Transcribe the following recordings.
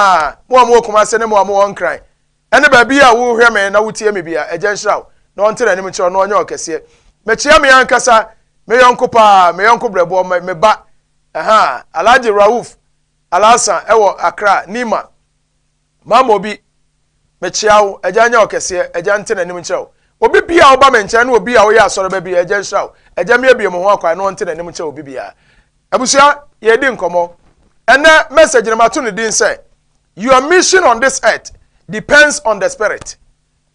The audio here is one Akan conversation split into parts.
Ah, mo a mowɔ Kumase ne mo a mowɔ Nkran ne baabi a wohwɛ me na wotie me bia, Agya nhyira wo na ɔnte n'anim nkyerɛ wo na ɔnyɛ ɔkɛseɛ. Mekyea me ankasa me yɔnko paa, me yɔnko brɛboɔ, me, me ba, aha, Alhaji Rauf Alhassan wɔ Accra, Nima. Mama obi. Mekyea wo, Agya nyɛ wo kɛseɛ, Agya nte n'anim nkyerɛ wo. Obi biara a ɔba me nkyɛn ne obi a ɔyɛ asɔreba biara, Agya nhyira wo. Agya meabue me ho akwan na ɔnte n'anim nkyerɛ obi biara. Abusua, yɛredi nkɔmmɔ. Ɛnnɛ message no mato ne din sɛ Your mission on this earth depends on the spirit.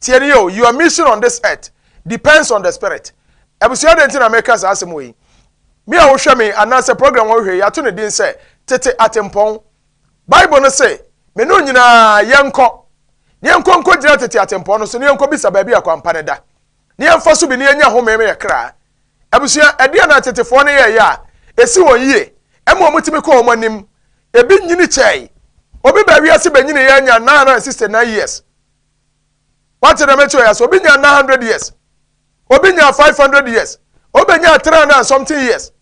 Tie ne yɛ o, your mission on this earth depends on the spirit. Abusua dɛn nti na meka saa asɛm wɔ yi? Me a wohwɛ me anaasɛ program a wohwɛ yi ato ne din sɛ tete atempɔn Bible no se, Me ne wo nyinaa, yɛnkɔ, na yɛnkɔ nkogyina tete atempɔn no so, na yɛnkɔbisa baabi a kwan pa no da, na yɛmfa so bi, na yɛanya home ma yɛn kra. Abusua, ɛdeɛn na atetefoɔ no yɛeɛ a ɛsi wɔn yie ma wɔtumi kɔɔ wɔn anim? Ebi nyini kyɛe. Obi baa wiase bɛnyiniiɛ nya 969 years. Wate dɛm ɛkyerɛ yɛ sɛ obi nya 900 years, obi nya 500 years, obi bɛnya 300 and something years.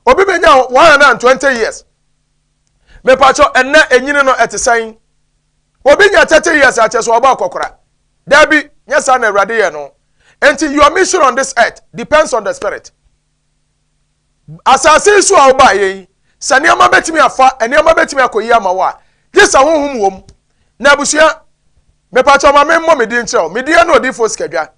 Obi bɛnya 120 years. Mepakyɛ ɛnɛ enyini no ɛte sɛn? Obi nya 30 years akyɛ so ɔbɔ akɔkora. Dabi, nyɛ saa na Awurade yɛ no. Enti your mission on this earth depends on the spirit. Asase so a ɔbaa yɛn, sɛ nneɛma bɛtumi afa, nneɛma bɛtumi akɔ yi ama wɔ a, gye sɛ honhom wɔ mu. Na abusua, mepakyɛ ɔma me mmɔ me din kyerɛ wo. Me din ɛne odiifo sikadwa.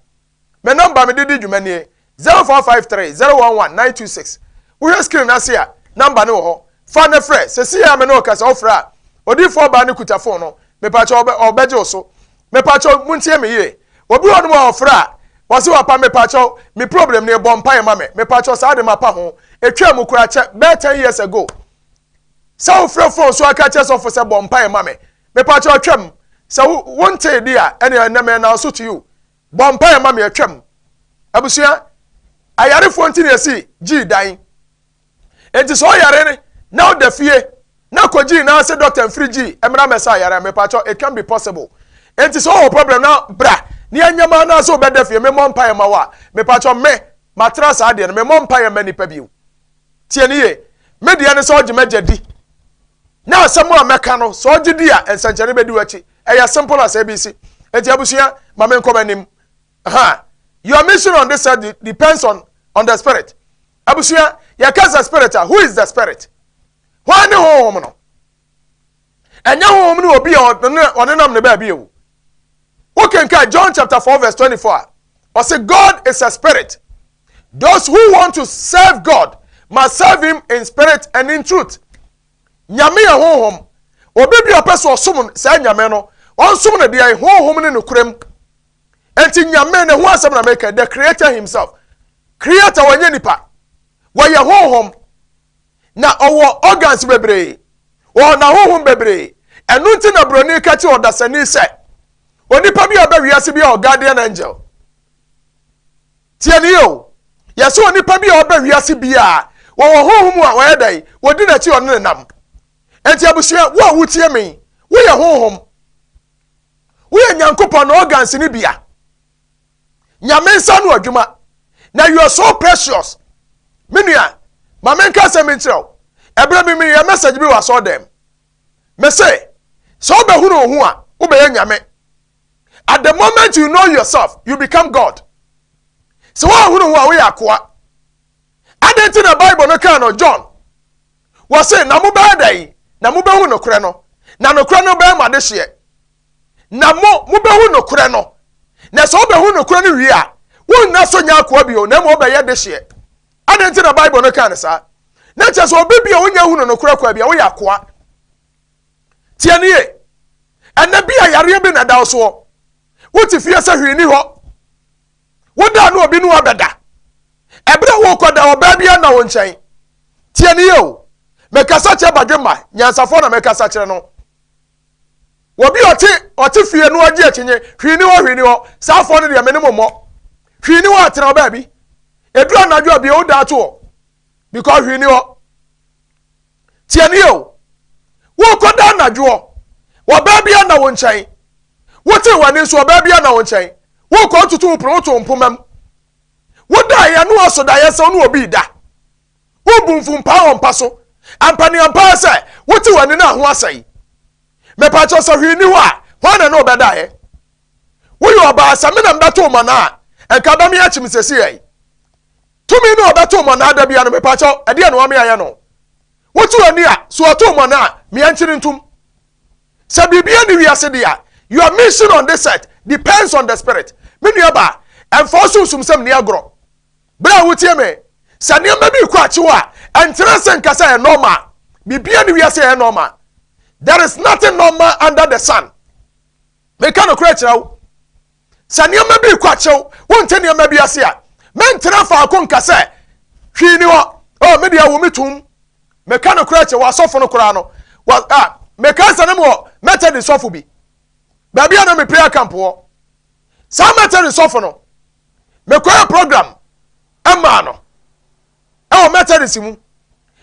Me nɔmba mede di dwuma nie, zero four five three zero one one nine two six. Wohwɛ screen no ase a, nɔmba no wɔ hɔ. Fa na frɛ. Sesei a me ne wo kasa, wofrɛ a, odiyifoɔ baa no kuta fon no. Mepakyɛ ɔbɛ, ɔbɛgye wo so. Mepakyɛ montie me yie. Obi wɔ nom a ɔfrɛ a, wɔse wapa, mepakyɛ me problem nie, bɔ mpaeɛ ma me. Mepakyɛ saa de mapa ho. Etwaa mu koraa kyɛ bɛɛ ten years ago. Sɛ wofrɛ fon so aka kyerɛ sɔfo sɛ bɔ mpaeɛ ma me. Mepakyɛ twam. Sɛ wo, wontee di a, ɛneɛ ɛnɛ me announce to you. Bɔ mpaeɛ ma me atwam. Abusua, ayarefoɔ nti na yɛsi gyii dan. Enti sɛ ɔyare no na ɔda fie na kɔ gyii na sɛ dɔkta mfiri gyii mmra mmɛsa ayare a mepakyɛw it can be possible. Enti sɛ ɔwɔ problem na bra na yɛnyɛ ma na sɛ ɔbɛda fie memmɔ mpaeɛ ma wo a mepakyɛw me matena saa deɛ no memmɔ mpaeɛ ma nipa bio. Tie no yie. Me deɛ ne sɛ ɔgye m'agya di. Na asɛm a mɛka no, sɛ ɔgye di a, nsɛnkyerɛnne bɛdi w'akyi. Ɛyɛ simple as ABC. Enti abusua, ma me nkɔ m'anim. Ha, your mission on this earth depends on, on the spirit. Abusua, yɛka sɛ spirit a, who is the spirit? Hwan ne honhom no? Ɛnyɛ honhom ne obi a ɔne nam ne baabi o. Wokenka John chapter 4 verse 24 a, ɔse God is a spirit. Those who want to serve God must serve him in spirit and in truth. Nyame yɛ honhom. Obi bi a ɔpɛ sɛ ɔsom saa nyame no, ɔnsom no deɛ honhom ne nokorɛm. Enti nyame ne ho asɛm na meka, the creator himself. Creator wɔnyɛ nipa. Wɔyɛ honhom. Na ɔwɔ organs bebree. Ɔwɔ n'ahonhom bebree. Ɛno nti na buroni ka kyerɛ ɔdasani sɛ onipa bi a ɔbɛ wiase bi a ɔguardian angel. Tie ni o, yɛsɛ onipa bi a ɔba wiase biara, wɔwɔ honhom mu a wɔyɛ dɛn, wɔdi n'akyi ɔne ne nam. Enti abusua, wo a wotie me, woyɛ honhom. Woyɛ Nyankopɔn na organs ne bia. Nyame nsa no adwuma. Na you are so precious. Me nua, ma menka asɛm bi nkyerɛ wo. Ɛberɛ bi meyɛ message bi wɔ asɔɔdɛm. Mese, sɛ wobɛhunu wo ho a, wobɛyɛ Nyame. at the moment you know yourself you become god sɛ woahunu ho a woyɛ akoa adɛn nti na bible no kaa no john wɔ se na mobɛyɛ dɛn na mobɛhu nokorɛ no na nokorɛ no bɛyɛ mo adehyeɛ na mo mobɛhu nokorɛ no na sɛ wobɛhu nokorɛ no wie a wonna so nyɛ akoa bio na mmom wobɛyɛ dehyeɛ adɛn nti na bible no kaa no saa na kyerɛ sɛ obi bi a wonya hunu nokorɛ kwa bi a woyɛ akoa Tie no yie. Ɛnɛ bi a yareɛ bi na ɛda wo soɔ. Wote fie sɛ hwee ni hɔ. Woda a na obi ne wabɛda. Ɛberɛ a worekɔda ɔbaa bi anna wo nkyɛn. Tie no yie o. Mekasa kyerɛ badwemma nyansafoɔ na mekasa kyerɛ no. Obi a ɔte ɔte fie no agye akyinye hwee ni hɔ hwee ni hɔ. Saa afoɔ no deɛ me ne mo mmɔ. Hwee ni hɔ atena ɔbaa bi. Ɛduru anadwo a bie woda ato hɔ. because hwee ni hɔ tie ni o wokɔ da anadwoɔ ɔbaa bi ana wo nkyɛn wote w'ani nso ɔbaa bi ana wo nkyɛn wokɔ ntutu wo pono woto mpoma mu woda yɛ no ɔso da yɛ sɛ ɔno obi da wobu mfumpaa wɔ mpa so ampaneampaa sɛ wote w'ani no a ho asɛe mepatwɛ sɛ hwee ni hɔ a hwan na ne ɔbɛda yɛ woyɛ ɔbaa sɛ me na mbɛto ma no a ɛnka bɛme akyim sɛsi yɛi Tumi no a ɔbɛtow mɔnaa da biara no, mepakyɛw, ɛdeɛn na ɔma meayɛ no? Wotu w'ani a, so ɔtow mɔnaa a, meankyere ntom? Sɛ biribiara nni wiase de a, your mission on this earth depends on the Spirit. Me nuabaa, ɛmfa wo sunsumsɛm nni agorɔ. Berɛ a wotie me, sɛ nneɛma bi rekɔ akyi hɔ a, ɛnkyerɛ ase nka sɛ ɛyɛ normal. Biribiara nni wiase a ɛyɛ normal. There is nothing normal under the sun. Meka nokorɛ kyerɛ wo. sɛ nneɛma bi rekɔ akyew wonte nneɛma bi ase a mentena faako nka sɛ hwee ni hɔ oh me deɛ wo me tum meka no koraa kyɛ wɔ asɔfo no koraa no wɔ a meka sɛ no wɔ methodist sɔfo bi baabi a na me prayer camp wɔ saa methodist sɔfo no mekɔyɛ program ɛmaa no ɛwɔ methodist mu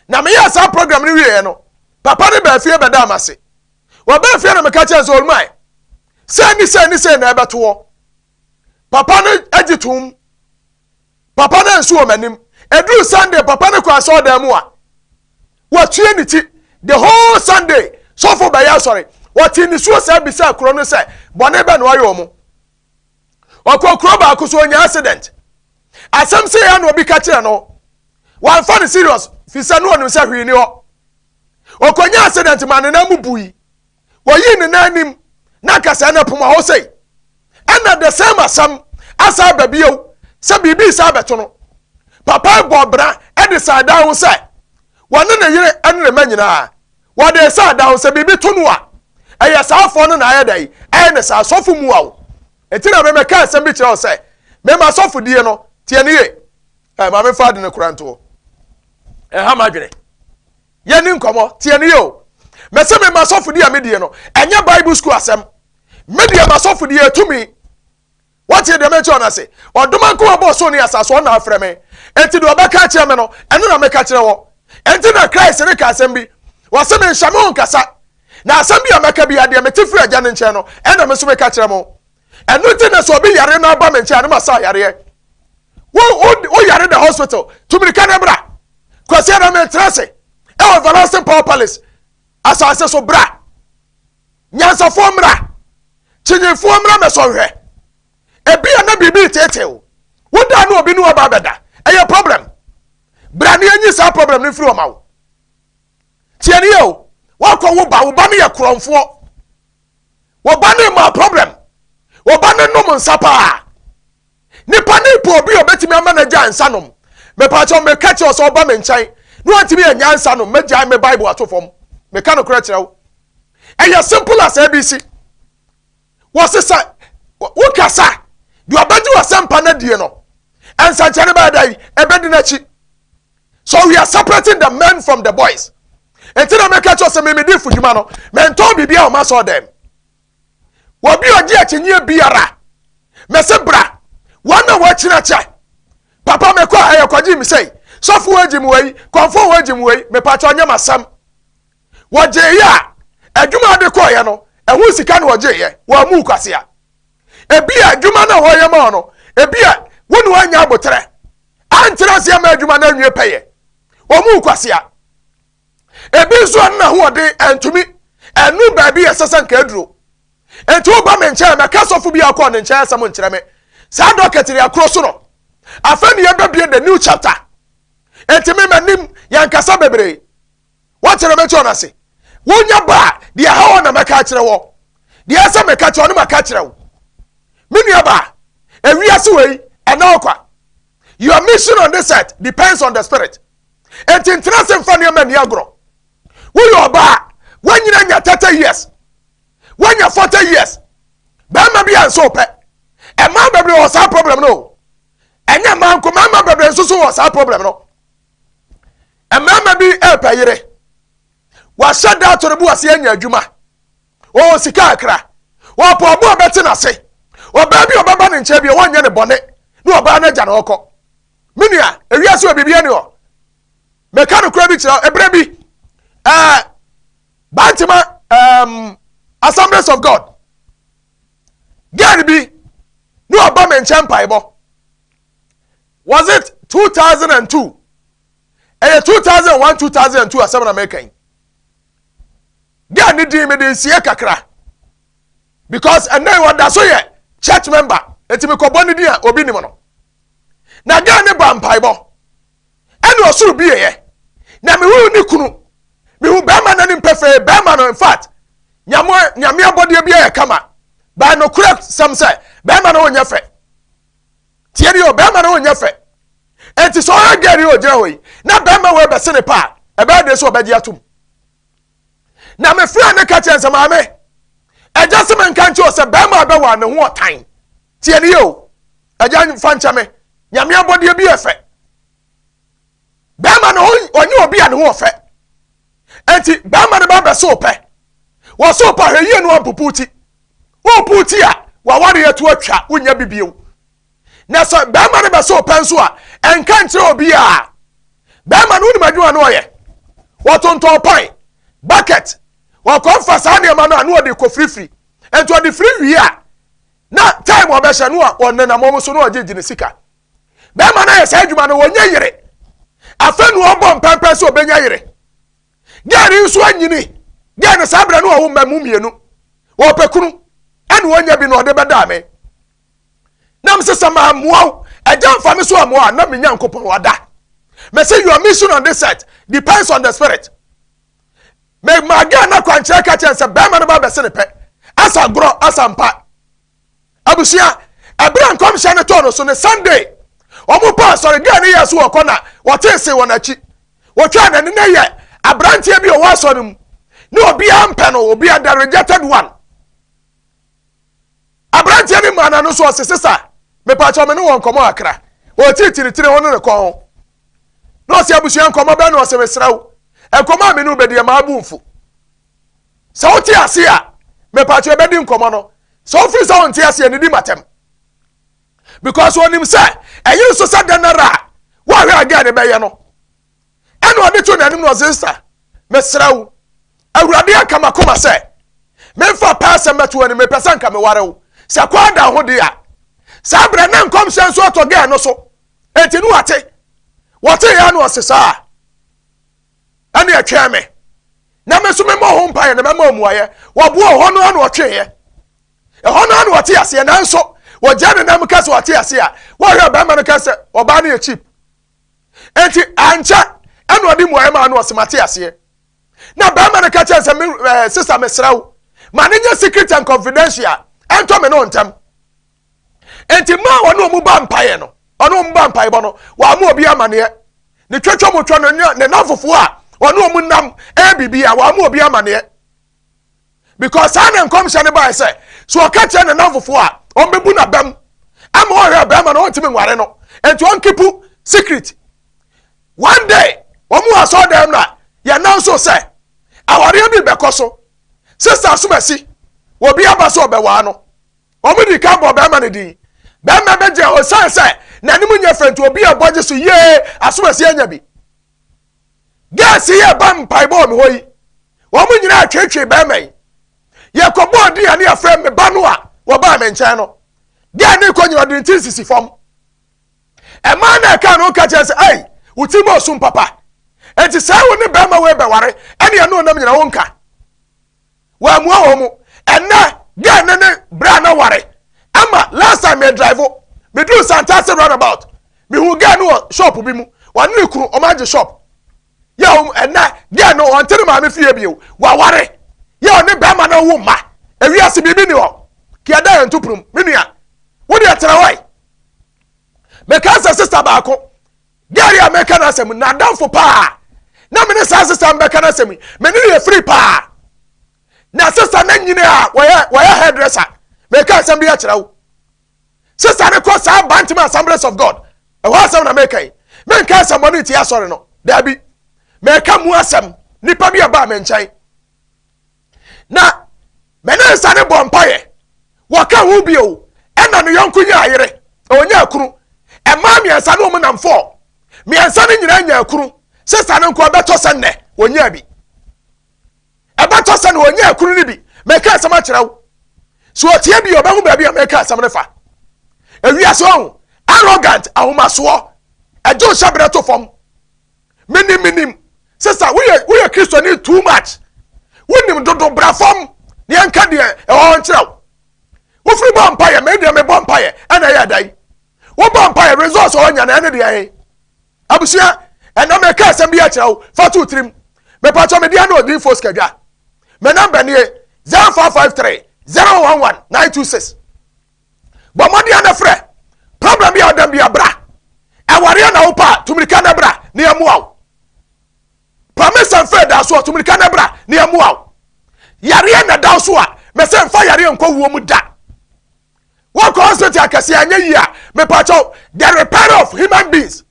na meyɛ saa program no wieɛ no papa ne baafie bɛda ama se wɔbɛɛ fie no meka kyɛn sɛ ɔlmae Sei ne sei ne sei na ɛbɛto hɔ. Papa no gye tom. Papa no ansu wɔ m'anim. Ɛduru Sunday, papa no kɔ asɔɔdan mu a, watue ne ti. The whole Sunday, sɔfo bɛyɛ asɔre. Ɔte nisuo saa bisa kuro no sɛ, bɔne bɛ na ɔyɛ ɔmo. Ɔkɔ kuro baako so ɔnya accident. Asɛm sɛ yɛ na obi ka kyerɛ no. Wamfa no serious, fi sɛ no ɔnim sɛ hwee ni hɔ. Ɔkɔnya accident ma ne nan mu bui. wɔyii ne nan anim na anka sɛɛ na ɛpoma hɔ sei. Ɛna the same asɛm asan ba bio sɛ biribi san bɛto no. Papa yi bɔɔ bra de san dan ho sɛ wɔne ne yere ne ne mma nyinaa wɔde san dan ho sɛ biribi to no a ɛyɛ saafoɔ no na ayɛ dɛn ɛyɛ ne saa sɔfo mu awo. Ɛti na memɛka asɛm bi kyerɛ wo sɛ mema sɔfodie no tie ne ye. Ɛ maame fa ade no kora ntoɔ. Ɛha m'adwene. yɛni nkɔmmɔ tie no yɛ o mɛsɛ me ma sɔfodi a medie no ɛnyɛ bible school asɛm medeɛ ma sɔfodi ɛtumi wɔtie deɛ mɛkyerɛ no ase ɔdoma nko abɔ ɔsoro ne asase ɔna afrɛ me enti deɛ ɔbɛka akyerɛ me no ɛno na mɛka kyerɛ wɔ enti na christ ne ka asɛm bi wɔse menhyɛ me ho nkasa na asɛm bi a mɛka bi adeɛ mete firi agya no nkyɛn no ɛna me nso meka kyerɛ mo ɛno nti na sɛ obi yare na ɔba me nkyɛn a ne ma sa yareɛ wo wo wo yare da hospital tumirika ne bra kwasi na me ntra se ɛwɔ everlasting power palace asase so bra nyansafoɔ mmra kyinyifoɔ mmra mɛsɔnhwɛ ebi a na biribi tetew wodaa ne obi ne wɔba abɛda ɛyɛ problem bra ne anyi saa problem no mfiri ɔma wo tiɛne yɛ o woakɔ wo ba wo ba no yɛ korɔmfoɔ wɔba ne ma problem wɔba ne nom nsa paa nipa ne pɔ obi obetumi ama no agya nsa nom mepaakyɛw meka kyerɛ sɛ ɔba me nkyɛn na wantumi anya nsa nom mɛgyae me bible ato fam meka no korɛ kyerɛ wo ɛyɛ simple as abc wɔse sɛ wokasa deɛ ɔbɛgye wɔ sɛ mpa no adie no ɛnsɛnkyɛne bɛyɛ dɛn ɛbɛdi n'akyi so we are separating the men from the boys eti na meka kyerɛ sɛ meme de fudwuma no mentɔn biribi a ɔma sɔ dɛm wɔbi ɔgye akyinyie biara mɛse bra wɔn na wɔakyina kyɛ papa mekɔ a ɛyɛ kɔgye me sɛi sɔfo wɔagye mu wei kɔnfo wɔagye mu wei mepakyɛ ɔnyɛ masɛm wɔgyeeɛ a adwuma ade kɔɔyɛ no ɛho sika na wɔgyeeɛ wɔamu kwasea ebi a adwuma no a wɔyɛ ma no ebi a wo ne wɔanya aboterɛ ankyerɛ ase ama adwuma no anwie pɛyɛ wɔn mu kwasea ebi nso ano n'ahoɔden ɛntumi ɛnu baabi yɛ sɛsɛ nka aduro nti woba me nkyɛn mɛka sɔfo bi akɔ ne nkyɛn asɛm nkyerɛ me saa dɔkɛtiri akoro so no afei ne yɛbɛbie the new chapter nti me m'anim yɛnkasa bebree Woate na mɛte wɔn ase. Wonya ba a, deɛ ɛha wɔn na mɛka akyerɛ wɔ. Deɛ ɛyɛ sɛ meka kyerɛ wɔn no maka akyerɛ wo. Me nua ba, ewiase wei, ɛna hɔ kwa. Your mission on this earth depends on the spirit. Enti ntena ase mfa nneɛma nni agorɔ. Woyɛ ɔba a, woanyini anya thirty years. Woanya forty years. Bɛrima bi a nso pɛ. Ɛmaa bebree wɔ saa problem no o. Ɛnyɛ mmaa nko, mmarima bebree nso so wɔ saa problem no. Mmarima bi repɛ yere. Wahyɛ da ato ne bo ase anya adwuma. Ɔwɔ sika akra. Ɔpɛ ɔbo a ɔbɛte n'ase. Ɔbaa bi a ɔbɛba ne nkyɛn bi a wɔnyɛ ne bɔne na ɔbaa no agya na ɔkɔ. Me nua, ewiase wɔ biribi ani hɔ. Meka no kora bi kyerɛ ebere bi. Ɛɛ eh, Bantama ɛɛm um, Assemblies of God. Gɛn bi na ɔba me nkyɛn mpaebɔ. Was it 2002? ɛyɛ two thousand one two thousand and two asɛm na mɛka yi girl ne din mede nsie kakra because ɛnna yi ɔda so yɛ church member eti mi kɔbɔ ne din a obi nim no na girl ne ba mpaebɔ ɛna ɔsoro bi yɛ na mehu ne kunu mehu bɛrima n'anim pɛfɛɛ bɛrima no in fact nyame abɔdeɛ bi yɛ kama baa nokorɛ sɛm sɛ bɛrima no wonyɛ fɛ tie ni o bɛrima no nyɛ fɛ nti sɛ ɔyɛ gɛɛ ni o gyina hɔ yi na bɛrima wɔ ɛbɛse ne paa ɛbɛyɛ de so ɔbɛgye atum na me fira ne ka kyerɛ nsɛ maame ɛgya se me nka nkyɛ o sɛ bɛrima bɛwa ne ho ɔtan tie ni o ɛgya nfa nkyɛ me nyame abɔdeɛ bi yɛ fɛ bɛrima no ɔnyɛ obi a ne ho ɔfɛ Enti bɛrima no ba bɛso wo pɛ. Wɔso wo pɛ a, hwɛ yie na wɔampupu wo ti. Wopupu wo ti a, w'awareɛ to atwa, wonnya bi bio. Na sɛ bɛrima no bɛso wo pɛ nso a, ɛnka nkyerɛ obiara. Bɛrima no, wonim adwuma no ɔyɛ? Wɔtontɔn pan, bucket, wɔkɔmfa saa nneɛma no a na ɔde kɔfirifiri. Enti ɔde firi wie a, na time ɔbɛhyɛ no a ɔnenam wɔn so na ɔgyegye ne sika. bɛrima no ayɛ saa adwuma no wɔnyɛ yere afei na ɔbɔ mpɛmpɛn sɛ ɔbɛnya yere gɛɛ no nso anyini gɛɛ no saa berɛ no ɔwo mma mu mmienu ɔpɛ kunu ɛne ɔnya bi na ɔde bɛdaa me nam sɛ sɛ mammoa wo agya mfa me so ammoa na me nyankopɔn wada mɛsɛ your mission on this earth depends on the spirit mɛma gɛɛ no akwankyerɛ ka kyɛn sɛ bɛrima no ba bɛse ne pɛ asa gorɔ asa mpa abusua ɛberɛ a nkɔmhyɛ no tɔɔ no so ne Sunday wɔn pa asɔredan no yɛ so wɔkɔ na wɔtee se wɔn akyi wɔtwaa n'ani na yɛ aberanteɛ bi ɔwɔ asɔre mu ne obiara mpɛ no obiara the rejected one aberanteɛ no maa n'ano so ɔse sesa mepaakyɛ ɔme ne wɔn nkɔmɔ akra wɔtitiritiri ho ne ne kɔn ho na ɔse abusua nkɔmɔ bɛɛ na ɔse mesrɛ wo nkɔmɔ a me ne wobɛdi ɛma abu mfo Sɛ wote aseɛ a, mepatwo ɛbɛdi nkɔmmɔ no. Sɛ wofiri sɛ wonte aseɛ no, di matɛm. Because onim sɛ ɛyere so sɛ dɛn ara a woahwɛ a gɛɛ no bɛyɛ no. Ɛna ɔde to n'anim na ɔse sista, mesrɛ wo, Awurade aka m'akoma sɛ memfa pɛ asɛm bɛto w'anim, mepɛ sɛ nka meware wo. Sɛ kwaa da ho de a, saa berɛ na nkɔmhyɛ nso atɔ gɛɛ no so. Enti no wate, wɔte yɛ na ɔse saa. ɛne ɛtwɛn me na me nso memmɔ ho mpaeɛ na mɛma mmuaeɛ wɔboɔ hɔ no ano ɔtweeɛ ɛhɔ no ano ɔte aseɛ nanso wɔgya ne nam ka sɛ ɔte aseɛ a wɔhwɛ bɛrima no ka sɛ ɔbaa no yɛ cheap enti ankyɛ ɛna ɔde mmuaeɛ maa no ɔsema te aseɛ na bɛrima no ka kyerɛ sɛ me ɛɛ sisa mesrɛ wo ma ne nyɛ secret and confidential ɛntɔ me no ntɛm nti mmaa a wɔne wɔn ba mpaeɛ no ɔne wɔn ba mpaebɔ no wɔama obi amaneɛ ne twɛtwɛ mu twɛ no ne nanfofoɔ a ɔne wɔn nam ɛyɛ biribi a wɔama obi amaneɛ because saa na nkɔmhyɛ no baeɛ sɛ so ɔka kyerɛ ne nanfofoɔ a wɔbɛbu na bɛm ama ɔhwɛ bɛrima no ɔntumi nware no nti ɔnkipu secret one day wɔn wɔ asɔɔ dɛm na yɛn nan so sɛ awareɛ bi bɛkɔ so sista asomasi wɔbi aba so ɔbɛwaa no Wɔn di kan bɔ bɛrima no din. Bɛrima bɛ gyɛ osiane sɛ n'anim nyɛ fɛ nti obi a ɛbɔ gye so yie asomasi anya bi. Gɛɛsi yi ɛba mpaebɔ wɔ me hɔ yi, wɔn nyinaa atwetwe bɛrima yi. Yɛkɔbɔɔ din a ne yɛfrɛ me ba no a wɔbaa me nkyɛn no. Gɛɛ ne kɔ nyina ɔde ne ti nsisi fam. Ɛmaa na ɛka no ka kyerɛ sɛ ɛi wo ti mu ɔsom papa. Enti sɛ wo ne bɛrima wei bɛware ɛne ɛno nam nyina wo nka. wɔammua wɔn mo ɛnɛ dɛn ne ne berɛ a na ware ama last time me drive meduru santase runabout mehu gɛ no wɔ shop bi mu wɔne ne kunu wɔn agye shop yɛ wɔn ɛnɛ dɛn no wɔn tere maame fie bio wɔaware yɛ wɔne bɛrima no wo mma ewiase biribi ni hɔ kìí ɛda yɛn ntupurum me nua wo deɛ tẹrɛ hɔ yi mɛka sɛ sista baako Gary a meka n'asɛm n'adamfo paa na me ne saa sesa mbɛka n'asɛm me ne yɛ firi paa na sesa ne nyini a wɔyɛ wɔyɛ hairdresser meka asɛm bi akyerɛ wo sesa ne kɔ saa bantam assemblies of god ɛhɔ asɛm na meka yi menka asɛm bɔ ne nti asɔre no daabi meka mu asɛm nipa bi a baa me nkyɛn Na me ne nsa ne bɔ mpaeɛ. Wɔka ho bio. Ɛna ne yɔnko nyaa yere. Ɔnyaa kunu. Mmaa mmiɛnsa ne wɔn nam fɔɔ. Mmiɛnsa no nyinaa nyaa kunu. Sista no nko ɛbɛtɔ sɛ nnɛ ɔnyaa bi. Ɛbɛtɔ sɛ na ɔnyaa kunu no bi. Mɛka asɛm akyerɛ wo. So ɔteɛ bi ɔbɛhu baabi a mɛka asɛm no fa. Ewiase ɔho arrogant ahomasoɔ ɛgye ɔhyɛ berɛ to fam. menim menim sesa woyɛ woyɛ kristoni too much wonim dodo bra fam na yɛnka deɛ ɛwɔ hɔ nkyerɛ wo wofiri bɔ mpaeɛ me deɛ mebɔ mpaeɛ ɛna ɛyɛ dan wobɔ mpaeɛ results ɔwɔ nya na ɛne deɛ ɛhe abusua ɛna meka asɛm bi akyerɛ wo fa to tirim mepatɔ medeɛ ne ɔdin fos kadwa me namba nie 0553 011 926 bɔ mmɔden na frɛ problem bi a ɔdam bi abra ɛwareɛ na wopa a tumirika na bra na yɛmmoa wo pamesa mfɛ da so a tumirika na bra na yɛmmoa wo yareɛ na da so a mɛsɛ mfa yareɛ nkɔ wuo mu da wɔkɔ hospital akɛseɛ anyɛ yie a mepakyɛw the repair of human beings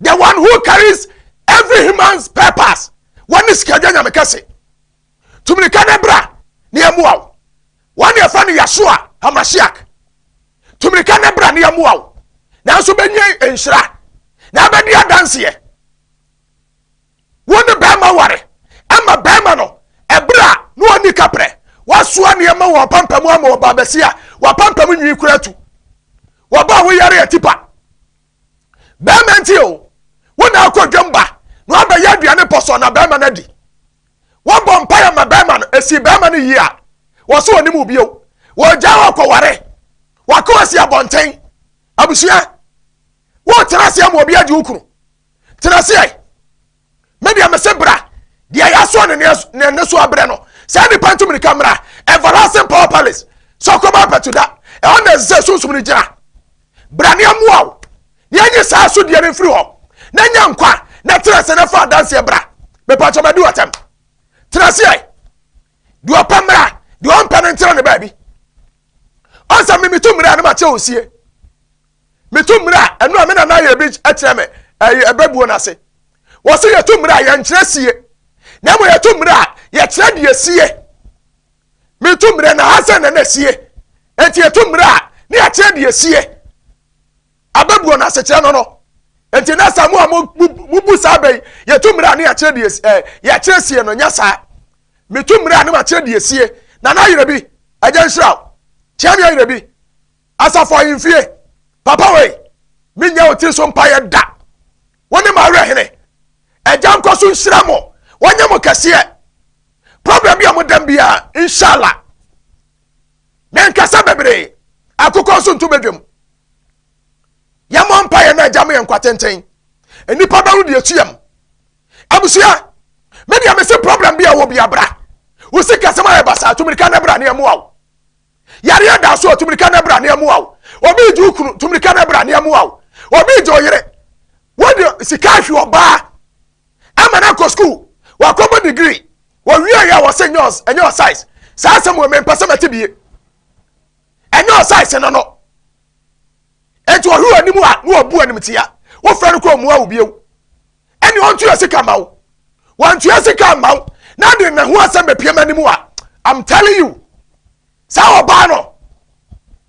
the one who carries every human's purpose wɔne sikadwa nyame kɛse Tu mmirika na bra na yɛmmoa wo. Wɔn na yɛfrɛ no Yasua Hamasiak. Tu mmirika na bra na yɛmmoa wo. Nanso bɛnya nhyira na abɛdi adanseɛ. Wo ne bɛrima ware ama bɛrima no ɛberɛ a na ɔnni kaprɛ. Wasoa nneɛma wɔ apampam ama ɔbaa bɛsi a wapampam nwi kura tu. Wɔba a woyare yɛ tipa. Bɛrima nti o, wo na akɔ dwam ba na wabɛyɛ aduane pɔsɔ na bɛrima no adi. Wɔbɔ mpaeɛ ma bɛrima no, ɛsii bɛrima no yie a, wɔso ɔnim wo bio. Wɔgyae wɔ kɔware. Wako asi abɔnten. Abusua, wotena aseɛ ma obi agye wo kunu. Tena aseɛ. Me deɛ mese bra. Deɛ yɛasoa ne ne ne so abrɛ no. Saa nipa ntu mirika mmra. Everlasting Power Palace. Sɔkɔba apɛtuda. Ɛhɔ na ɛsɛ sɛ sunsum no gyina. Bra na yɛmmoa wo na yɛnye saa asodeɛ no mfiri hɔ na nya nkwa na tena ase na fa adanseɛ bra. Mepatwɔ madi w'atɛm. Tena aseɛ. Deɛ ɔpɛ mmara, deɛ ɔmpɛ no ntena ne baabi. Ɔnsa me metu mmara a na makyɛ wo sie. Metu mmara a ɛno a me nana yɛ bi kyerɛ me ɛbɛbuo no ase. Wɔse yɛtu mmara a yɛnkyerɛ sie. Na mmom yɛtu mmara a yɛkyerɛ deɛ sie. metu mmerɛ na ha sɛ na na asie enti yɛtu mmerɛ a ne yɛakyerɛ deɛ asie abɛbuo no asekyerɛ no no enti na saa mu a mobu saa bɛyi yɛtu mmerɛ a ne yɛakyerɛ deɛ eh, yɛakyerɛ sie no nyɛ saa metu mmerɛ a ne makyerɛ deɛ asie na na ayerɛ bi agya nhyira wo kyerɛ me ayerɛ bi asafo ahemfie papa wei menyɛ wo tiri so mpaeɛ da Wo ne m'awerɛhene. Agya nkɔ so nhyira mo. Wɔnyɛ mo kɛseɛ. Program bi a mo dam biara inshallah. Me nkasa bebree. Akokɔ nso nto badwam. Yɛmmɔ mpa yɛn na agya mo yɛ nkwa tenten. Nnipa bɛwo deɛ etu yam. Abusua, me deɛ mese program bi a wɔ bi abra. Wo sikasɛm ayɛ basaa, tumirika na bra ne ɛmoa wo. Yareɛ da so, tumirika na bra na ɛmoa wo. Obi regye wo kunu, tumirika na bra na ɛmoa wo. Obi regye wo yere, wode sika ahwe ɔbaa ama no akɔ sukuu, wakɔbɔ digiri, wɔwieɛ a wɔsɛ nyɛ ɛnyɛ ɔsaes. Saa asɛm wɔ mempɛ sɛ mɛte bie. Ɛnyɛ ɔsaes no no. Enti ɔhwe wɔ anim a na wɔbu animtia. Wofrɛ no kɔ mmua wo bio. ɛne ɔntua sika ma wo wantua sika ma wo na de ne ho asɛm bɛpia ma anim a i'm telling you saa ɔbaa no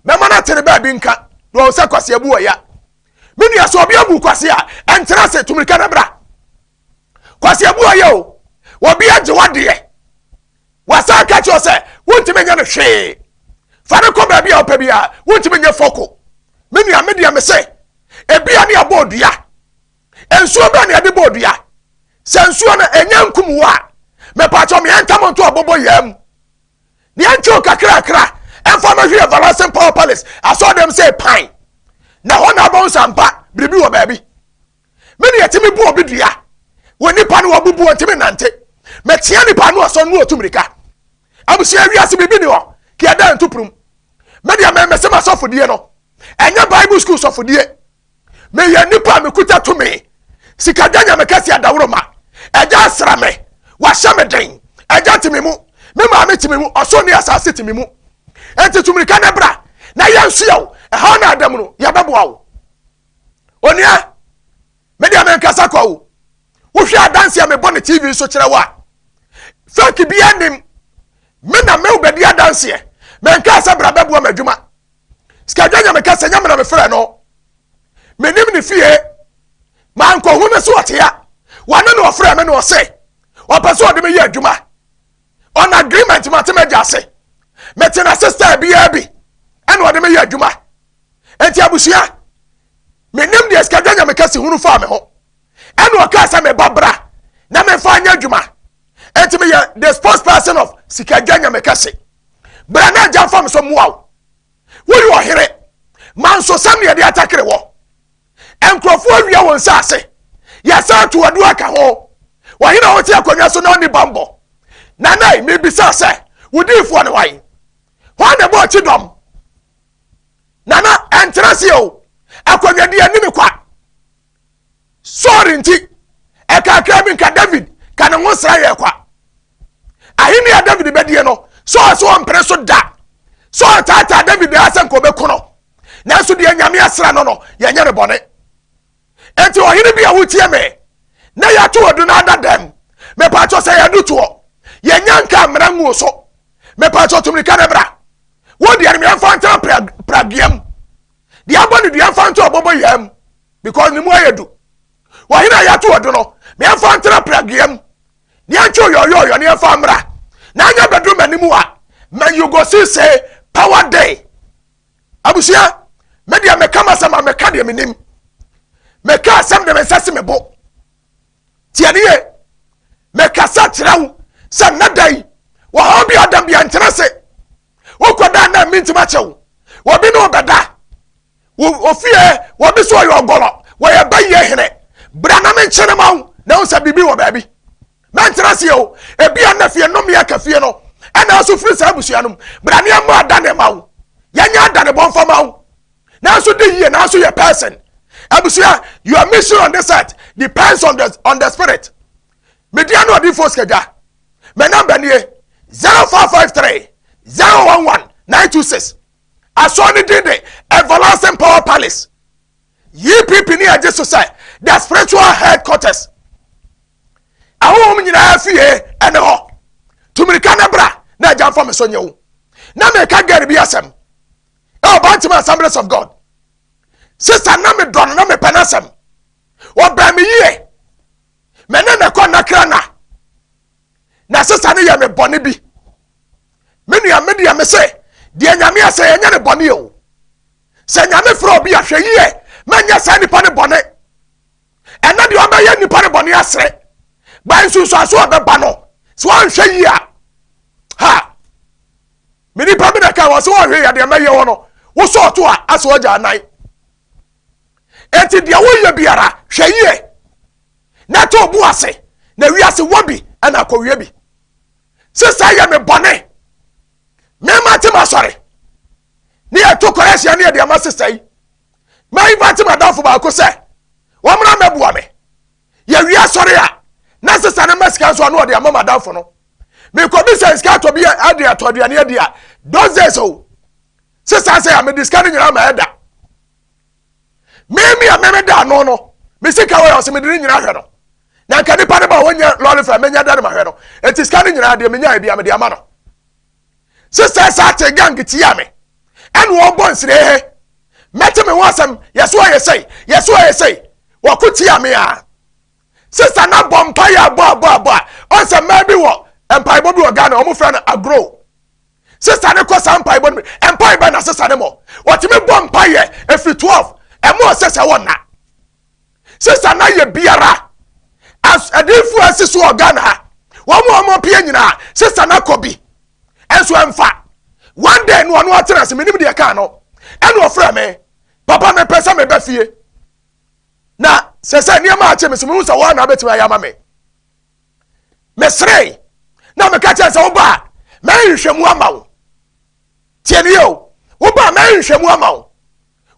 mɛma no atere baabi nka na ɔwɔ sɛ kwase abu ɔya me nua sɛ ɔbi abu kwase a ɛntena se tumirika no bra kwase abu ɔya o wɔbi agye wadeɛ wasan ka kyerɛ sɛ wontumi nyɛ no hwee fa no kɔ baabi a ɔpɛ bi a wontumi nyɛ fɔko me nua me deɛ me se ebi a ne abɔ odua nsuo bɛn na yɛde bɔ dua sɛ nsuo no ɛnyɛ nkum wo a mepatɔ meɛ ntam nto ɔbɔbɔ yɛa mu ne ɛntwew kakrakra ɛmfa no hwɛ everlasting power palace asɔ dɛm sɛ pan na hɔ na abɛn sampa biribi wɔ baabi me ne yɛtumi bu obi dua wɔ nipa no wabubu wɔn ntumi nante mɛtia nipa no asɔ no otu mirika abusua wiase biribi ni hɔ kí ɛda ntupurum me deɛ mɛmɛsɛm asɔfodie no ɛnyɛ bible school sɔfodie meyɛ nipa a mekuta tumi sika gya nyame kɛse adaworoma ɛgya asra me wahyɛ me den ɛgya tumi mu me maame tumi mu ɔso ne asase tumi mu enti tumirika ne bra na yɛnsoa wo ɛha na adam no yɛbɛboa wo onua medeɛ menkasa kwa wo wohwɛ adanse a mebɔ ne tv so kyerɛ wo a fake bia nim me na me wobɛdi adanseɛ menkaa sɛ bra bɛboa m'adwuma sikadwa nyame kasa nyame na mefrɛ no menim ne fie mankɔhu no so ɔtea wane na ɔfrɛ me na ɔse ɔpɛ sɛ ɔde meyɛ adwuma on agreement mate magya ase mete na sister biaa bi ɛna ɔde meyɛ adwuma enti abusua menim deɛ sikadwa nyame kasa hunu faa me ho ɛna ɔkaa sɛ meba bra na memfa nyɛ adwuma ɛnti meyɛ the spokesperson of sika dwa nyame kɛse bra na agya mfa me so mmoa wo woyɛ ɔhene manso sɛm ne yɛde atakere wɔ nkurɔfoɔ awia wɔn nsa ase yɛsɛ ato adu aka ho wɔhene a wɔte akonnwa so na ɔne bambɔ nanai mebisa sɛ wodiifoɔ ne wae hɔ na ɛbɔ ɔkyi dɔm nana ɛntena seɛ o akonnwadeɛ ne me kwa saul nti ɛkakra bi nka david ka ne ho sra yɛ kwa ahenni a david bɛdie no saul so ɔmpere so da saul taataa david daa sɛ nka ɔbɛku no nanso deɛ nyame asra no no yɛnyɛ ne bɔne enti ɔhene bi a wotie me na yɛato adu no ada dɛm mepatwɔ sɛ yɛdu toɔ yɛnya nka mmara nguo so mepatwɔ tumika no bra wodeɛ no meɛmfa ntena pragiam deɛ abɔ ne dua mfa nto ɔbɔbɔ yea mu because ne mu ayɛ du wɔhene a yɛato ɔdo no meɛmfa ntena pragea mu deɛ ntwe ɔyɔyɔyɔ ne ɛmfa mmra na anyɛ bɛduru m'anim a man you go see say power day abusua me deɛ meka m'asɛm a meka deɛ menim meka asɛm de me nsa si me bo tie ne yie mekasa kyerɛ wo sɛ nnɛ da yi wɔhaw bi ɔda bia nkyerɛ se wokɔda na mi ntimi akyɛ wo wɔbi ne wɔbɛda ofie wɔbi so ɔyɛ ɔgɔlɔ wɔyɛ bɛyɛ hene bra na menkyene ma wo na wo sɛ biribi wɔ baabi mɛnkyerɛ seɛ o ebi a na fie nnome aka fie no ɛna nso firi saa abusua no mu bra ne ɛmmɔ adane ma wo yɛnyɛ adane bɔmfa ma wo nanso di yie nanso yɛ person abusua your mission on this earth depends on the on the spirit media no ɔdi fos kagya mɛ namba nie zero four five three zero one one nine two six asɔɔ ne din de everlasting power palace yii pipi ne agye so sɛ the spiritual headquarters ahohom nyinaa fie ɛne hɔ tumirika ne bra na agya nfa me so nyew na meka gari bi asɛm ɛwɔ bantam assemblies of god sista na me dɔ no na mepɛ n'asɛm ɔbɛn me yie mɛne ne kɔ nakra na na sista no yɛ me bɔne bi me nua me deɛ me se deɛ nyame asɛ yɛnyɛ ne bɔne o sɛ nyame frɛ obi ahwɛ yie mɛnyɛ saa nipa ne bɔne ɛna deɛ ɔbɛyɛ nipa ne bɔne asere ba nsunsuanso a ɔbɛba no so anhwɛ yie a ha Me nipa bi na ɛka wɔ sɛ ɔhwɛ yɛ deɛ mɛyɛ wɔ no wo sɛ ɔto a asɛ ɔgya anan enti deɛ woyɛ biara hwɛ yie na to bo ase na wiase wɔ bi ɛna akɔwie bi sesa yɛ me bɔne mema te masɔre ne yɛto kɔrɛ ahyia ne yɛde ama sesa yi ma invite madamfo baako sɛ wɔmmra mɛboa me yɛwie asɔre a na sesa no ma sika nso ano ɔde ama madamfo no mekɔbi sɛ sika atɔ bi ade atɔ aduane adi a those days o sesa sɛ a mede sika no nyinaa ma ɛda meme a meme da ano no me sika wɔ yɛ ɔsɛ mede ne nyinaa hwɛ no na nka nipa no ba wɔnyɛ lɔre fɛ menya da no ma hwɛ no ɛti sika no nyinaa deɛ menya ɛbi a mede ama no sɛ sɛ saa te gang tia me ɛna ɔbɔ nsire he mɛte me ho asɛm yɛso ayɛ sɛi yɛso ayɛ sɛi wɔko tia me a sista na bɔ mpa yɛ abɔ abɔ abɔ a ɔnsɛ mmaa bi wɔ mpaebɔ bi wɔ Ghana wɔn frɛ no agro sista ne kɔ saa mpaebɔ no bi mpaebɔ na sista ne mɔ wɔtumi bɔ mpa yɛ efiri twelve ɛmo ɔsɛ sɛ wɔn na. sesa na yɛ biara as adinfo asi so wɔ Ghana ha wɔn a wɔn pie nyinaa sesa na kɔ bi nso ɛnfa one day no ɔno atena ase menim deɛ kaa no ɛna ɔfrɛ me papa me pɛ sɛ me bɛ fie na sɛ sɛ nneɛma akyɛ me sɛ mehu sɛ wɔn na abɛtumi ayɛ ama me mesere na meka kyerɛ sɛ woba a mɛnhwehwɛ mu ama wo tie ne yɛ o woba a mɛnhwehwɛ mu ama wo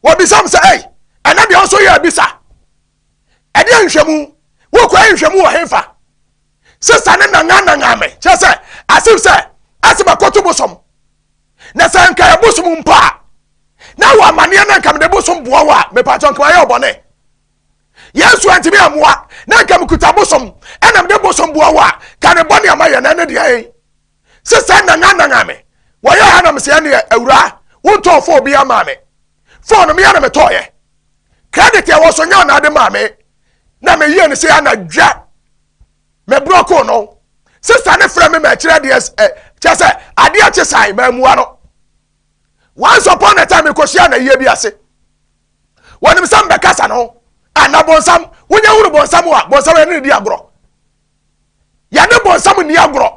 wɔbisa m sɛ, Ei, ɛnɛ deɛ wo nso yɛ abisa? Ɛdeɛ nhwɛmu? Wokɔɛ nhwɛmu wɔ hefa? Sesa ne nangananga me, kyerɛ sɛ, asem sɛ, ɛsɛ bɛkɔto bosom. Na sɛ nka yɛ bosom mpo a, na wɔ amanneɛ na nka mede bosom boa wo a, mepakyɛ nka mayɛ ɔbɔne. Yesu antimi amoa, na nka mekuta bosom, ɛna mede bosom boa wo a, ka ne bɔne ama yɛ na ɛne deɛ sɛ saa nananana me wɔyɛ ha na me sɛ ɛne awura wontɔn fɔɔ bi ama me fɔɔ no meyɛ na metɔɔyɛ credit ɛwɔ so nyɛ ɔnaade maa me na meyie no sɛ anadwa meborɔ koo no sista ne frɛ me ma ɛkyerɛ deɛ ɛ kyɛ sɛ adeɛ kye sae maamua no once upon a time mekɔhyia na yie bi ase wɔnim sɛ mbɛkasa no anabɔnsam wonyɛ hunu bɔnsam a bɔnsam ɛne ne di agorɔ yɛne bonsam nni agorɔ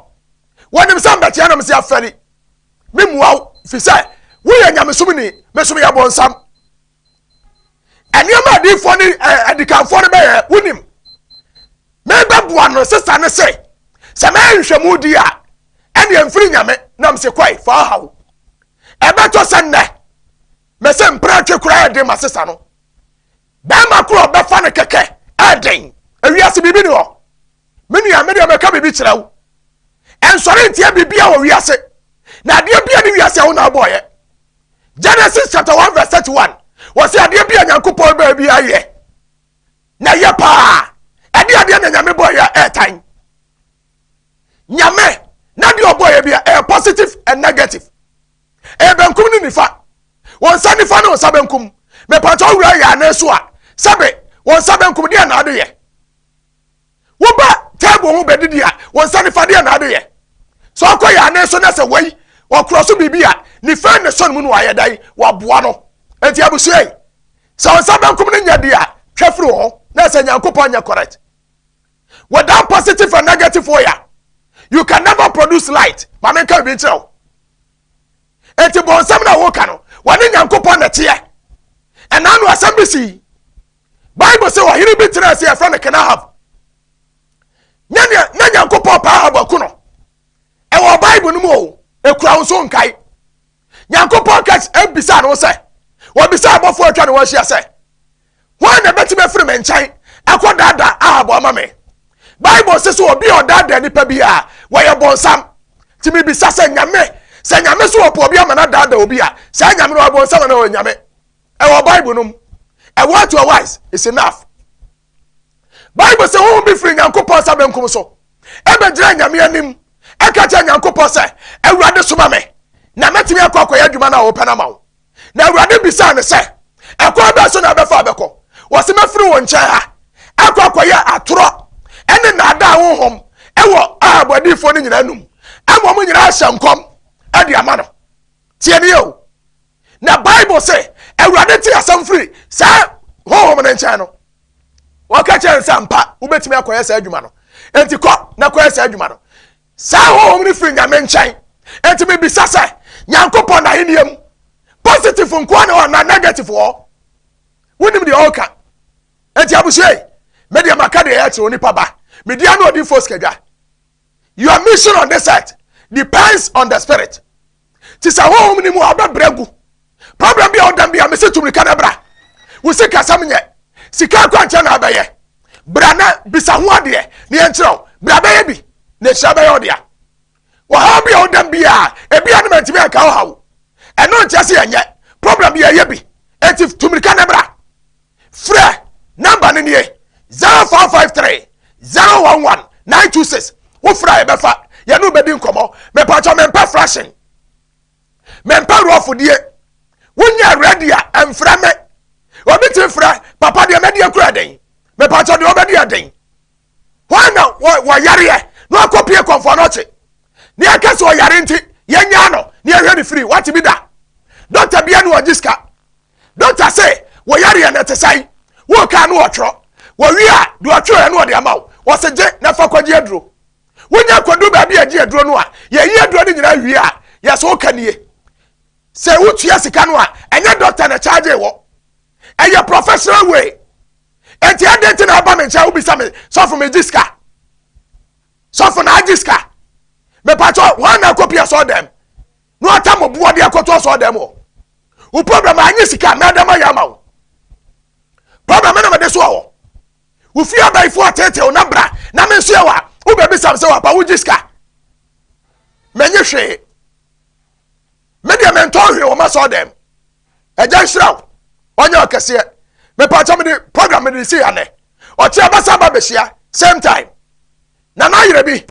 wɔnim sɛ mbɛteɛ nom sɛ afɛri me mua wo fi sɛ woyɛ nyamesom ni mesom yɛ bonsam nneɛma adiifoɔ ne adikanfoɔ no bɛyɛ wonim mebɛboa no sesa ne se sɛ mɛyɛ nhwɛmu di a ɛneɛ mfiri nyame nam se kɔe fa aha wo ɛbɛtɔ sɛ nnɛ mɛsɛ mpratwe koraa ɛde ma sesa no Bɛɛma koro a bɛfa no kɛkɛ ɛɛden ewiase biribi ni hɔ me nua me deɛ mɛka biribi kyerɛ wo ɛnsɔre ntia biribiara wɔ wiase na adeɛ bia ne wiase a wo na abɔɔyɛ Genesis chapter 1 verse 31 wɔ sɛ adeɛ bia nyankopɔn bɛɛ bi ayɛ na yɛ paa ɛde adeɛ na nyame bɔɔyɛ ɛɛtan nyame na deɛ ɔbɔɔyɛ bia ɛyɛ positive and negative Ɛyɛ benkum ne nifa. Wɔn nsa nifa ne wɔn nsa benkum. Mepatwa owura yɛ anan so a, sɛbe wɔn nsa benkum deɛ na ade yɛ. Woba table ho bɛdidi a, wɔn nsa nifa deɛ na ade yɛ. Sɛ ɔkɔ yɛ anan so na sɛ wei ɔkorɔ so biribi a, nifa ne sɔn mu no ayɛ dan waboa no. Eti abusua yi, sɛ wɔn nsa benkum ne nyɛ deɛ a, twɛ firi wɔn na sɛ Nyankopɔn nyɛ correct. Without positive and negative oil, you can never produce light. Maame nka ebi nkyerɛ wo. enti bɔnsɛm na woka no wɔne nyankopɔn na teɛ ɛna no asɛm bi sii bible sɛ ɔhene bi tena ase yɛfrɛ no kenahab na nyankopɔn paa ahab aku no ɛwɔ bible no mu o ɛkura wo so nkae nyankopɔn ka ɛbisa no sɛ wɔbisa abɔfoɔ atwa ne wɔahyia sɛ Hwan na ɛbɛtumi afiri me nkyɛn akɔ daadaa Ahab ama me? Bible se so obi a ɔdaadaa nipa bi a wɔyɛ bɔnsam. Nti mebisa sɛ nyame, sɛ nyame so wɔpɛ obi ama no adaadaa obi a, saa nyame no ɔyɛ bɔnsam anaa ɔyɛ nyame? Ɛwɔ Bible no mu. A word to a wise is enough. Bible se honhom bi firi Nyankopɔn nsa benkum so ɛbɛgyina nyame anim ɛka kyerɛ Nyankopɔn sɛ, Awurade soma me na mɛtumi akɔ akɔyɛ adwuma no a wɔpɛ no ama wo. Na Awurade bisaa no sɛ, Ɛkwan bɛn so na wobɛfa abɛkɔ? Wɔse mɛfiri wo nkyɛn ha akɔ akɔyɛ atorɔ ne nnaadaa honhom wɔ Ahab adiyifoɔ no nyinaa num ama wɔn nyinaa ahyɛ nkɔm de ama no. Tie ne o. Na Bible se Awurade te asɛm firi saa honhom no nkyɛn no. Wɔka kyerɛ no sɛ ampa wobɛtumi akɔyɛ saa adwuma no. Enti kɔ na kɔyɛ saa adwuma no. Saa honhom no firi Nyame nkyɛn. Enti mebisa sɛ, Nyankopɔn n'ahenniɛ mu, positive nkoa ne hɔ anaa negative wɔ hɔ? Wonim deɛ ɔreka. Enti abusua yi, me deɛ maka deɛ ɛyɛ kyerɛ onipa ba. Me deɛ ano ɔdinfoɔ sikadwa. Your mission on this earth depends on the spirit. te sɛ honhom no mu a ɔbɛbrɛ agu problem bi a ɔda bi a mesi tu mirika na bra wo sikasɛm nyɛ sika akwankyerɛ na abɛyɛ bra na bisa ho adeɛ na yɛnkyerɛ wo bra bɛyɛ bi na nhyira bɛyɛ ɔdea wɔhaw bi a ɔda bi a ebi a no mantumi anka ɔhaw ɛno nkyerɛ sɛ yɛnyɛ problem bi yɛyɛ bi eti tu mirika na bra Frɛ nɔmba no nie, 0453 011 926. Wo frɛ a yɛbɛfa, yɛne wo bɛdi nkɔmmɔ. Mepatwɔ mempɛ frahyen, mempɛ rɔfodie. Wonyɛ rɛdi a, ɛmfrɛ me. Obi tumi frɛ, papa deɛ mɛdi akura den. Mepatwɔ deɛ ɔbɛdi ɛden. hɔ na wɔyareɛ na wakɔ pie kɔmfoɔ no ɔkye ne yɛka sɛ ɔyare nti yɛnyaa no ne yɛhwɛ ne firi wate bi da dɔkta bia ne wɔgye sika dɔkta se wɔyareɛ no te sɛn wokaa no wɔtwerɛ wɔwie a deɛ ɔtwerɛɛ no ɔde ama wo wɔse gye na fa kɔgye aduro wonya kɔdu baabi a ɛgye aduro no a yɛyi aduro no nyinaa wie a yɛsɛ woka nie sɛ wotua sika no a ɛnyɛ dɔkta na kyaagye wɔ ɛyɛ professional way eti ɛdɛn ti na ɛba mi nkyɛn wobisa mi sɔfo mi gye sika sɔfo na agye sika mepatɔ wɔn na akɔ pia sɔɔ dɛm na ɔta mo boɔ de akɔtɔ sɔɔ dɛm o wo problem anyi sika mɛdɛm ayɛ ama wo problem na mɛde soɔ wɔ wo fie abayifoɔ tete wo na bra na me nso yɛ wa wo bɛbi sam sɛ wapa wo gye sika mɛnye hwee me deɛ mentɔn hwee wɔ m'asɔɔdɛm agya nhyira wo ɔnyɛ ɔkɛseɛ mepaakyɛ mede program mede si anɛ ɔkye abasa ba bɛhyia same time na na ayerɛ bi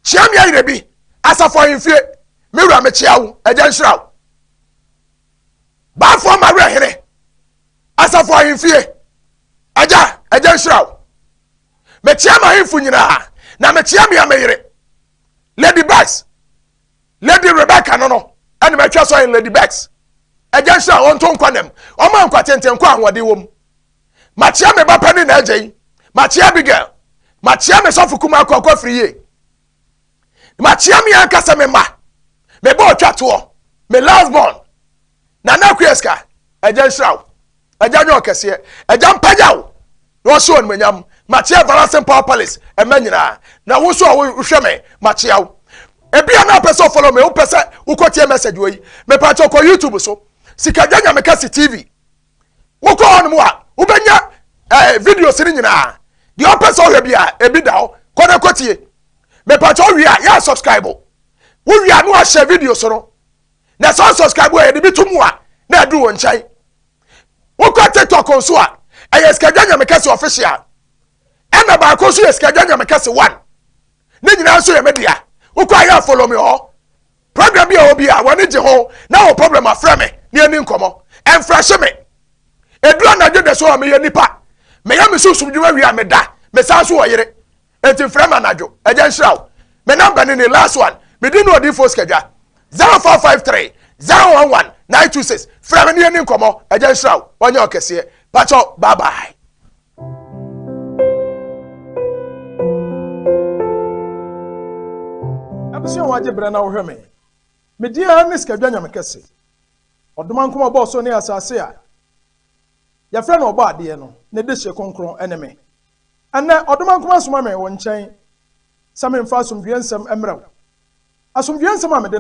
kyea me ayerɛ bi asafo ahemfie me wura mekyea wo agya nhyira wo baafoɔ ma werɛ hene asafo ahemfie agya agya nhyira wo mekyea ma ahemfo nyinaa na mekyea me ameyere lady bas Lady Rebecca no no ɛne mɛtwa sɔ in Lady Bex. Ɛgya nhyira a wɔnto nkwa nam. Wɔn a nkwa tenten nkɔ ahoɔden wom. Makyea me ba pɛ ne n'agya yi. Makyea Abigail. Makyea me sɔfo kumaa kɔ akɔ firi yie. Makyea me ankasa me mma. Me ba ɔtwa toɔ. Me last born. nana akua sika agya nhyira wo agya nyɛ ɔkɛseɛ agya mpagya wo na ɔhyɛ wɔn manyam makyea varasem power palace ɛmɛ nyinaa na wo nso a wohwɛ me makyea wo ebi a na apɛ sɛ ɔfɔlɔ me wopɛ sɛ wokɔ tie message wɔ yi mepɛ akyɛ ɔkɔ youtube so sikagya nyame kɛse tv wokɔ hɔ nom a wobɛnya ɛɛ eh, videos no nyinaa deɛ ɔpɛ sɛ ɔhwɛ bi a ebi da hɔ kɔ na kɔ tie mepɛ akyɛ ɔwie a yɛ subscribe wowie a no ahyɛ videos no na sɛ ɔsubscribe a yɛde bi to mu a na ɛduru wɔn nkyɛn wokɔ tiktok nso a ɛyɛ sikagya nyame kɛse official ɛna baako nso yɛ sikagya nyame kɛse one ne nyinaa nso yɛ media wokɔ ayɛ afolo me hɔ problem bi a wɔ bi a wɔne gye ho na wɔ problem afrɛ me ne ani nkɔmmɔ ɛmfrɛhye me ɛduru anadwo da so a meyɛ nipa meyɛ me sunsum dwuma wie a meda mesan so wɔ yere Eti frɛ me anadwo. Agya nhyira wo. Me number ne ni, last one. Me din ne Odiyifoɔ Sikadwa. 0453 011 926. Frɛ me ne yɛni nkɔmmɔ. Agya nhyira wo. Wanyɛ wo kɛseɛ. Pakyɛw, bye bye. Abusua wagye berɛ na wohwɛ me. Me din ara ne Sikadwa Nyamekɛse. Ɔdoma nkɔmmɔbɔɔ so ne asase a Yɛfrɛ no Ɔbɔadeɛ no, ne dehye kronkron ne me. Ɛnnɛ, Ɔdomankoma soma me wo nkyɛn sɛ memfa asomdwoeɛ nsɛm mmrɛ wo. Asomdwoeɛ nsɛm a mede.